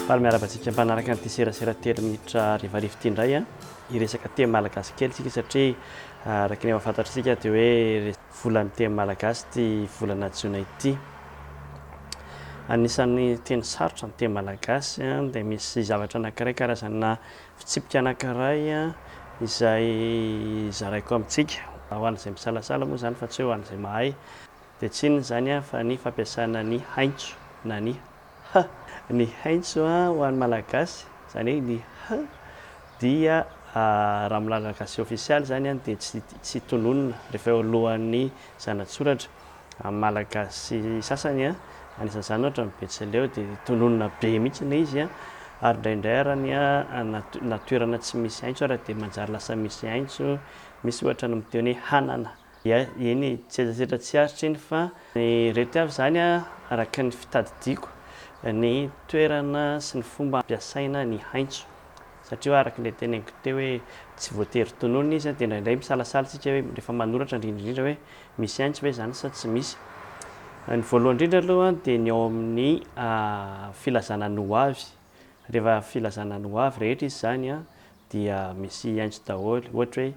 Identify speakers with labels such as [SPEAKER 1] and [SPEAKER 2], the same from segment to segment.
[SPEAKER 1] Faly miarahaba antsika mpanaraka an'ity serasera telo minitra harivariva ity indray an. Hiresaka teny malagasy kely isika satria araka ny efa fantatr'isika dia hoe volan'ny teny malagasy ity volana jiona ity. Anisan'ny teny sarotra ny teny malagasy an, dia misy zavatra anankiray karazana fitsipika anankiray an, izay zaraiko amintsika ho an'izay misalasala moa izany fa tsy hoe ho an'izay mahay. Dia tsy inona izany fa ny fampiasana ny haintso na ny h. Ny haintso ho an'ny Malagasy, izany hoe ny h dia raha amin'ny lalana gasy ofisialy izany dia tsy tononina rehefa eo alohan'ny zanatsoratra. Amin'ny Malagasy sasany, anisan'izany ohatra ny Betsileo dia tononina be mihitsy ilay izy ary indraindray ary ny na toerana tsy misy haintso ary dia manjary lasa misy haintso, misy ohatra ny miteny hoe hanana. Eny e, tsy hetsazetra tsy aritra iny fa ny reto avy izany araka ny fitadidiako ny toerana sy ny fomba ampiasaina ny haintso satria araka ilay teneniko teo hoe tsy voatery tononina izy dia indraindray misalasala isika hoe rehefa manoratra indrindra indrindra hoe misy haintso ve izany sa tsy misy. Ny voalohany indrindra aloha dia ny ao amin'ny filazana ny ho avy, rehefa filazana ny ho avy rehetra izy izany dia misy haintso daholo ohatra hoe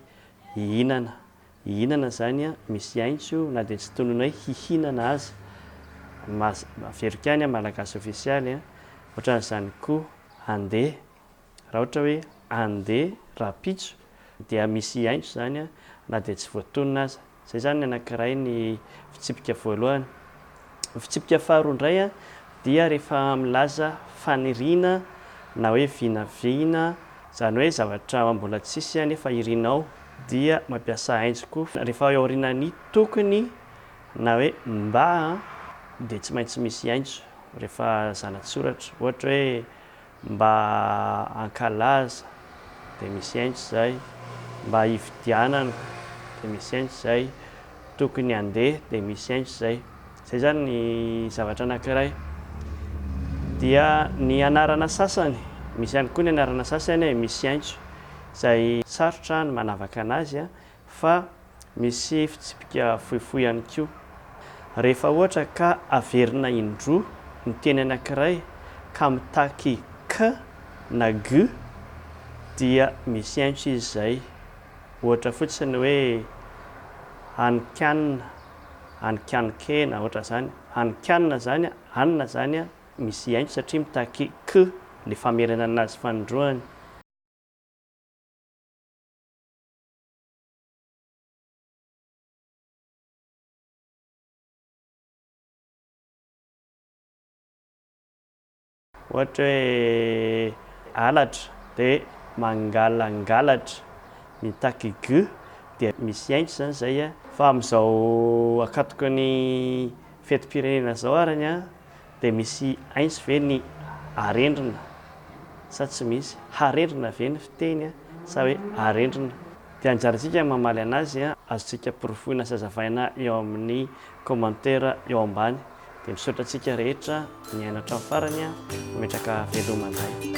[SPEAKER 1] hihinana, Hihinana zany a misy aintso na dia tsy tononay hihinana aza mas averiko any a malagasy ofisialy a otran'izany ko ande raha ohatra hoe ande rahampitso dia misy aintso zany a na dia tsy voatonona aza zay zany ny anakiray ny fitsipika voalohany Fitsipika faharoa indray dia rehefa milaza faniriana na hoe vinavina, izany hoe zavatra mbola tsisy nefa irinao dia mampiasa ainzy koa. Rehefa eo aorianan'ny tokony na hoe mba dia tsy maintsy misy ainzo rehefa zanatsoratra. Ohatra hoe mba hankalaza dia misy enjy izay, mba hividianana dia misy enjy izay, tokony handeha dia misy enjy izay. Izay izany ny zavatra anankiray. Dia ny anarana sasany, misy ihany koa ny anarana sasany e, misy enjy izay sarotra ny manavaka anazy fa misy fitsipika fohifohy ihany koa. Rehefa ohatra ka averina indroa ny teny anankiray ka mitaky k na g dia misy aintso izy izay. Ohatra fotsiny hoe hanin-kanina, hanin-kanin-kena, ohatra izany. Hanin-kanina izany, anina izany misy aintso satria mitaky k ilay famerenana azy fanindroany. Ohatra hoe halatra dia mangalangalatra, mitaky gy dia misy ainty izany izay a. Fa amin'izao akatoky ny fetim-pirenena izao ary ny ahy Dia misy aintsy ve ny arendrina sa tsy misy? Harendrina ve ny fiteny sa hoe arendrina? Dia anjarantsika ny mamaly anazy, azontsika porofoina sy azavaina eo amin'ny commentaire eo ambany. Dia misaotra antsika rehetra nihaino hatramin'ny farany, mametraka veloma indray.